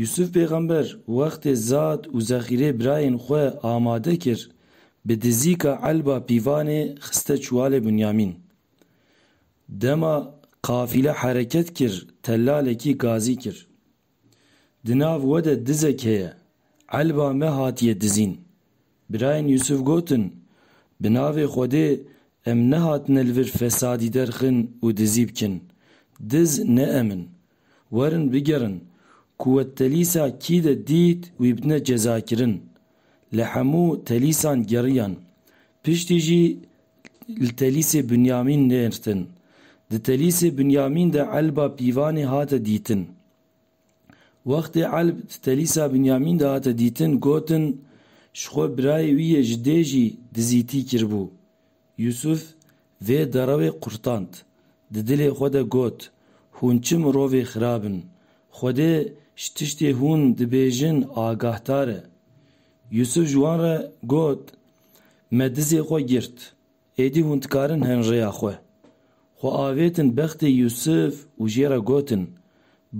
Yûsûf pêxember wextê Zad û zexîrê birayên xwe amade kir, bi dizîka elba pîvanê xiste çuwalê Binyamîn. Dema qafîle hereket kir tellalekî gazî kir. Di nav we de dizek heye, elba me hatiye dizîn. Birayên Yûsûf gotin, Bi navê Xwedê em nehatine li vir fesadî derxin û dizî bikin. Diz ne em in. Werin bigerin ku we telîsa kî de dît wî bidine cezakirin. Li hemû telîsan geriyan. Piştî jî li telîsê Binyamîn nêrtin. Di telîsê Binyamîn de elba pîvanê hate dîtin. Wextê elb di telîsa Binyamîn de hate dîtin gotin, ji xwe birayê wî yê ji dê jî dizîtî kiribû. Yûsûf vê derawê qurtand. Di dilê xwe de got, Hûn çi mirovê xirab in! Xwedê ji tiştê hûn dibêjin agahdar e. Yûsûf ji wan re got, Me dizê xwe girt. Êdî hûn dikarin hin rêya xwe. Xwe avêtin bextê Yûsûf û jê re gotin,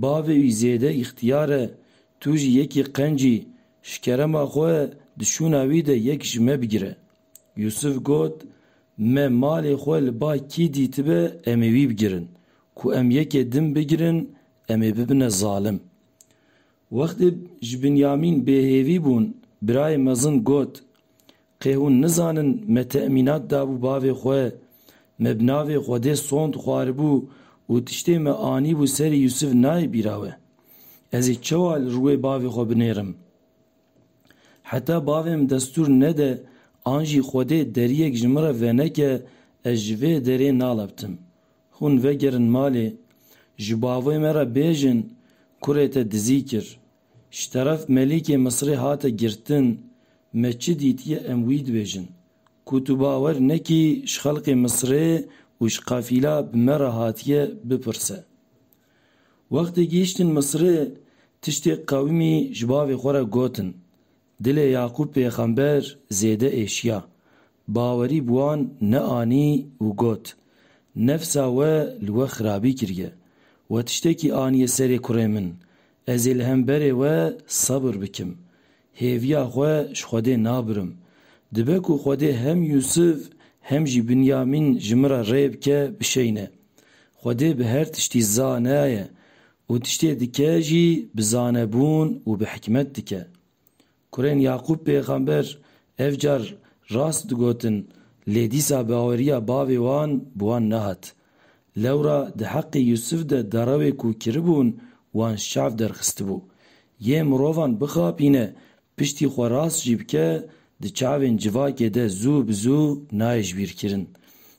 Bavê wî zêde îxtiyar e, tu jî yekî qencî, ji kerema xwe di şûna wî de yek ji me bigire. Yûsif got, Me malê xwe li ba kî dîtibe em ê wî bigirin. Ku em yekê din bigirin em ê bibine zalim. Wextê ji Binyamîn bêhêvî bûn birayê mezin got, Qê hûn nizanin me temînat dabû bavê xwe, me bi navê Xwedê sond xwaribû û tiştê me anîbû serê Yûsif nayê bîra we. Ez ê çewa li rûyê bavê xwe binêrim? Heta bavê min destûr nede an jî Xwedê deriyek ji min re veneke ez ji vê derê nalebtim. Hûn vegerin malê. Ji bavê me re bêjin kurê te dizî kir. Ji teref Melîkê Misirê hate girtin. Me çi dîtiye em wî dibêjin. Ku tu bawer nekî ji xelkê Misirê û ji qefîla bi me re hatiye bipirse. Wextê gihîştin Misirê tiştê qewimî ji bavê xwe re gotin. Dilê Yaqûb pêxember zêde êşiya. Bawerî bi wan neanî û got, Nefsa we li we xirabî kiriye. We tiştekî aniye serê kurê min. Ez ê li hemberê we sebir bikim. Hêviya xwe ji Xwedê nabirim. Dibe ku Xwedê hem Yûsif hem jî Binyamîn ji min re rê bike bişeyne. Xwedê bi her tiştî zane ye û tiştê dike jî bi zanebûn û bi hikmet dike. Kurên Yaqûb pêxember ev car rast digotin lê dîsa baweriya bavê wan bi wan nehat. Lewra di heqê Yûsif de derewê ku kiribûn wan şev derxistibû. Yê mirovan bixapîne, piştî xwe rast jî bike, di çavên civakê de zû bi zû nayê jibîrkirin.